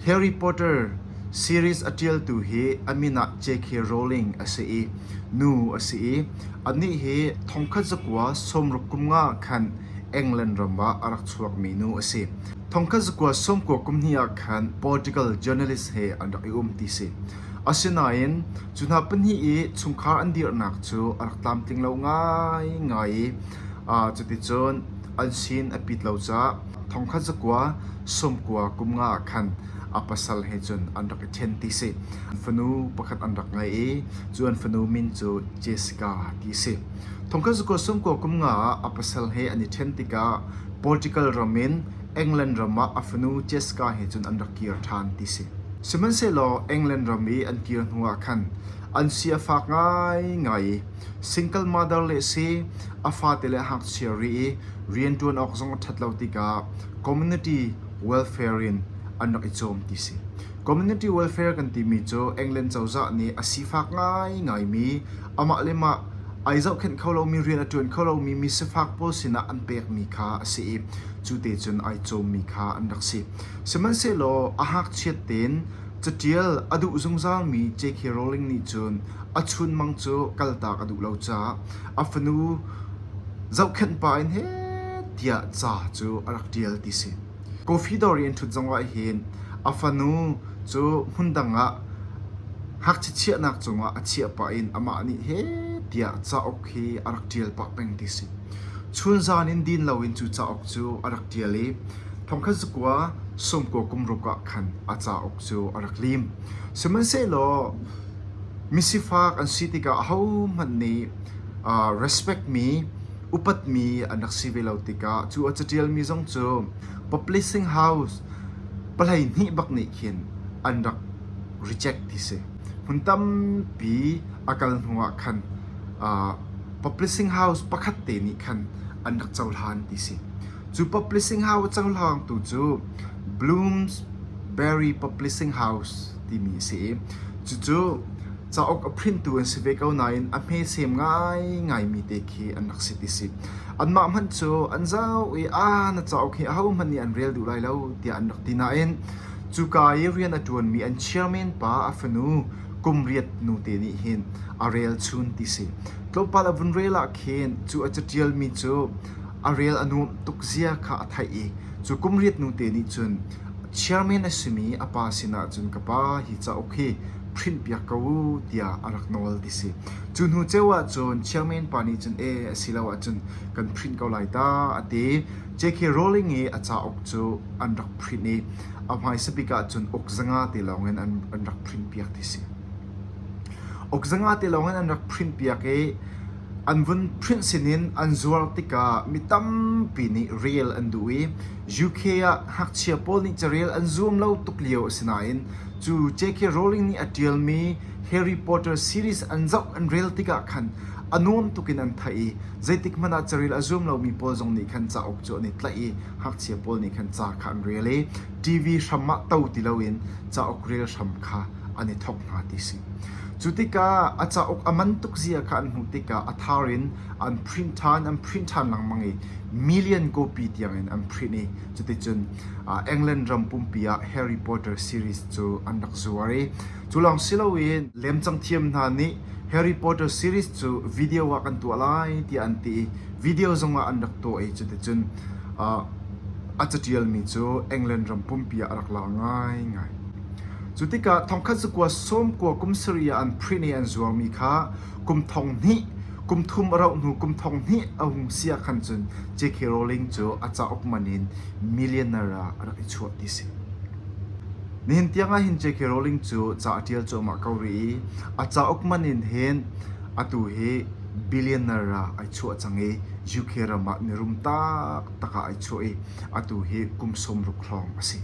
Harry Potter series a ṭialtu hi a min ah J.K. Rowling a si i nu a si i anih hi thongkhat zakua sawmruk kum nga khan England ram ah a rak chuakmi nu a si. Thongkhat zakua sawmkua kum hnih ah khan Portugal journalist he an rak i um ti si. Asinain cu hna pahnih i chungkhar an dirhnak cu a rak tlamtling lo ngaingai i cuticun an sin a pit lo caah Thongkhat zakua sawmkua kum nga ah khan a pasal he cun an rak i ṭhen ti a si. An fanu pakhat an rak ngei i cu an fanu min cu Jessica ti a si. Thongkhat zakua sawmkua kum nga ah a pasal he an i ṭhen tikah Portugal ram in England ram ah a fanu Jessica he cun an rak kir ṭhan ti a si. Sihmanhsehlaw England ram i an kir hnuah khan an si a fak ngaingai i Single mother le si a fate le a ngakchia ri i rian ṭuan awk zong a ṭhat lo tikah community welfare in an rak i cawm ti a si. Community welfare kan timi cu England cozah nih a sifak ngaingai mi, amah le mah ai zohkhenh kho lomi, rian a ṭuan kho lomi mi sifak pawl sinah an pekmi kha a si i cu te cun ai cawmmi kha an rak si. Sihmanhsehlaw a ngakchiat tein Caṭial a duh zungzalmi JK Rowling nih cun a chunmang cu kaltak a duh lo caah a fanu zohkhenh pa in heh tiah ca cu a rak ṭial ti si. Coffee dawr i an ṭhut zong ahhin a fanu cu hmundang ah ngakchia chiahnak cungah a chiah pah in amah nih heh tiah cauk hi a rak ṭial pah peng ti si. Chun zan in din loin cu cauk cu a rak ṭial i Thongkhat zakua sawmkua kum ruk ah khan a cauk cu a rak lim. Sihmanhsehlaw misifak an si tikah ahohmanh nih aa respectmi, upatmi an rak si ve lo tikah cu a caṭialmi zong cu publishing house pahleihnih bak nih khin an rak reject ti si. Hmun tampi a kal hnuah khan aa publishing house pakhat te nih khan an rak cohlan ti si. Cu publishing house cohlang tu cu Bloomsbury Publishing House timi a si i cucu cauk a printu an si ve ko nain a hmesem ngaingaimi te khi an rak si ti si. Anmah hmanh cu an zau i aa na cauk hi ahohmanh nih an rel duh lai lo tiah an rak ti nain cuka i rian a ṭuanmi an chairman pa a fanu kum riat nute nih hin a relchun ti si. Tlawmpal a vun rel ah khin cu a caṭialmi cu a rel a nuamh tuk zia kha a theih i cu kum riatnu te nih cun chairman a simi a pa sinah cun ka pa hi cauk hi printpiak ko u tiah a rak nawl ti si. Cu hnu ceu ah cun chairman pa nih cun e a si lo ahcun kan print ko lai ta a ti. J.K. Rowling i a cauk cu an rak print i a hmaisa bik ah cun uk zanga te lawng in an, an rak printpiak ti si. Uk zanga te lawng in an rak printpiak i An vun print sinin an zuar tikah mi tampi nih rel an duh i UK ah ngakchia pawl nih carel an zuam lo tuk lio a si nain cu J.K. Rowling nih a ṭialmi Harry Potter series an zoh an rel tikah khan a nuam tuk in an theih i zeitik hmanh ah carel a zuam lomi pawl zong nih khan cauk cu an i tlaih i ngakchia pawl nih khan ca kha an rel i TV hram ah to ti loin cauk rel hram kha an i thawk hna ti si. Cu tikah a cauk a man tuk zia kha an hmuh tikah a thar in an print ṭhan, an print ṭhan lengmang i million copy tiangin an print i cuticun ah England ram pumpi ah Harry Potter series cu an rak zuar i cu lawng si loin lemcang thiam hna nih Harry Potter series cu video ah kan tuah lai tiah an ti i video zongah an rak tuah i cuticun ah A catialmi cu England ram pumpi ah a rak laar ngaingai. Cu tikah thongkhat zakua sawmkua kum sarih ah an print i an zuarmi kha kum thong hnih, kum thum a rauh hnu kum thong hnih a hung si ahkhan cun J.K. Rowling cu a cauk man in millionaire ah a rak i chuah ti a si. Nihin tiang ahhin J.K. Rowling cu ca a ṭial cuahmah ko rih i a cauk man in hin atu hi billionaire ah ai chuah cang i UK ram ah mirum tak taktak ah ai chuah i atu hi kum sawmruk hrawng a si.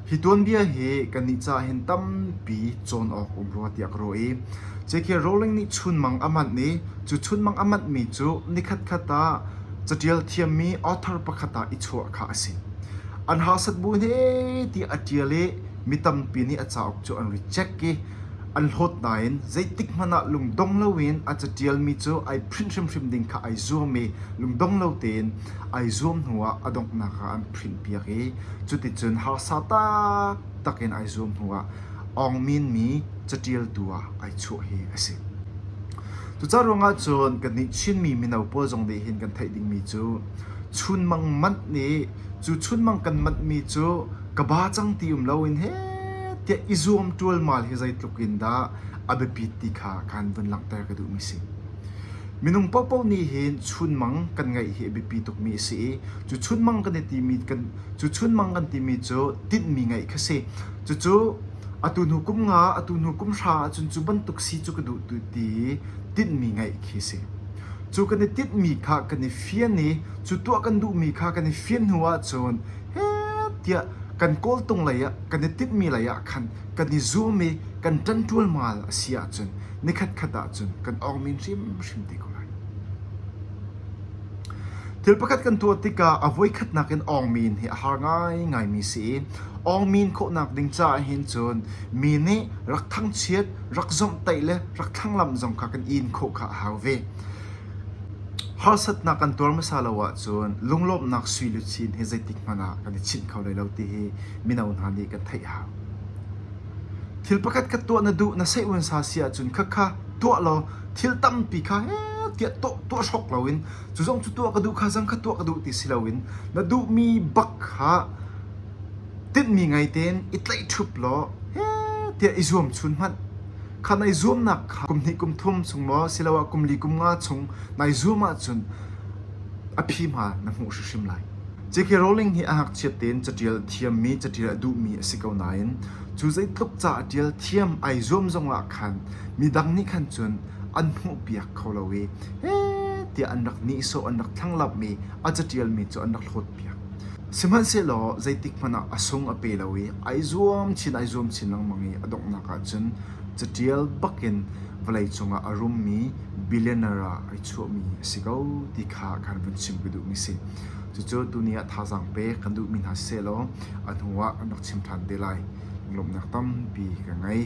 Hi tuanbia hi kannih caah hin tampi cawn awk um rua tiah ka ruah i JK Rowling nih chunmang a manh i cu chunmang a manhmi cu nikhatkhat ah catial thiammi author pakhat ah i chuah kha a si. An harsat bu hme ti a ṭial i mi tampi nih a cauk cu an reject i an hlawt nain zeitikhmanh ah lungdong loin a catialmi cu ai print hrimhrim ding kha ai zuam i lungdong lo tein ai zuam hnuah a donghnak ah an prinhpiak i cuticun harsa taktak in ai zuam hnuah Aung Min mi catialtu ah ai chuah hi a si. Cuca ruangah cun kannih Chinmi mino pawl zong nih hin kan theih dingmi cu chunmang manh nih cu chunmang kan manhmi cu ka ba cang ti um loin he tiah i zuam ṭualmal hi zeitluk in dah a biapit ti kha kan vun langhter ka duhmi a si. Minung paohpaoh nih hin chunmang kan ngeih hi a biapi tukmi a si i cu chunmang kan i timi kan cu chunmang kan timi cu tinhmi ngeih kha si. Cucu atu hnu kum nga, atu hnu kum hra ahcun cu bantuk si cu ka duh tu ti i tinhmi ngeih khi si. Cu kan i tinhmi kha kan i fian i cu tuah kan duhmi kha kan i fian hnu ahcun tiah kan kawltung lei ah kan i timhmi lei ah khan kan i zum i kan ṭan ṭualmal a si ahcun nikhatkhat ahcun kan awngmin hrimhrim te ko lai. Thil pakhat kan tuah tikah a voikhatnak in awngmin hi a har ngaingaimi si i awngmin khawhnak ding caah hin cun mi nih rak thangchiat, rak zomhtaih le rak thlanglamh zong kha kan in khawh kha a hau ve. Harsatnak kan tuar hmasa lo ahcun lunglawmhnak sui le cin hi zeitik hmanh ah kan i chinh kho hlei lo ti hi mino hna nih kan theih hau. Thil pakhat ka tuah na duh na seihmansa si ahcun khakha tuah law thil tampi kha hehtiah tuah hrok loin cu zong cu tuah ka duh kha zang kha tuah ka duh ti si loin na duhmi bak kha tinhmi ngei tein i tlaihṭhup law hehtiah i zuam chun hmanh. Khan ai zuamnak kha kum hnih kum thum chung maw siloah kum li kum nga chung nai zuam ahcun a phi hma na hmuh hrimhrim lai. J.K. Rowling hi a ngakchiat tein caṭial a thiammi, caṭial a duhmi a si ko nain cu zeitluk ca a ṭial thiam ai zuam zongah khan midang nih khan cun an hmuhpiak kho lo i heh tiah an rak nihsawh, an rak thlanglamh i a caṭialmi cu an rak hlawtpiak. Sihmanhsehlaw zeitikhmanh ah a sung a pe lo i ai zuam chin ai zuam chin lengmang i a donghnak ahcun caṭial bak in vawlei cungah a rummi billionaire ah ai chuahmi a si ko ti kha kan vun chim ka duhmi a si. Cucu tuni ah thazaang pek kan duhmi hna sehlaw a hnuah an rak chim ṭhan te lai. Lawmhnak tampi ka ngei.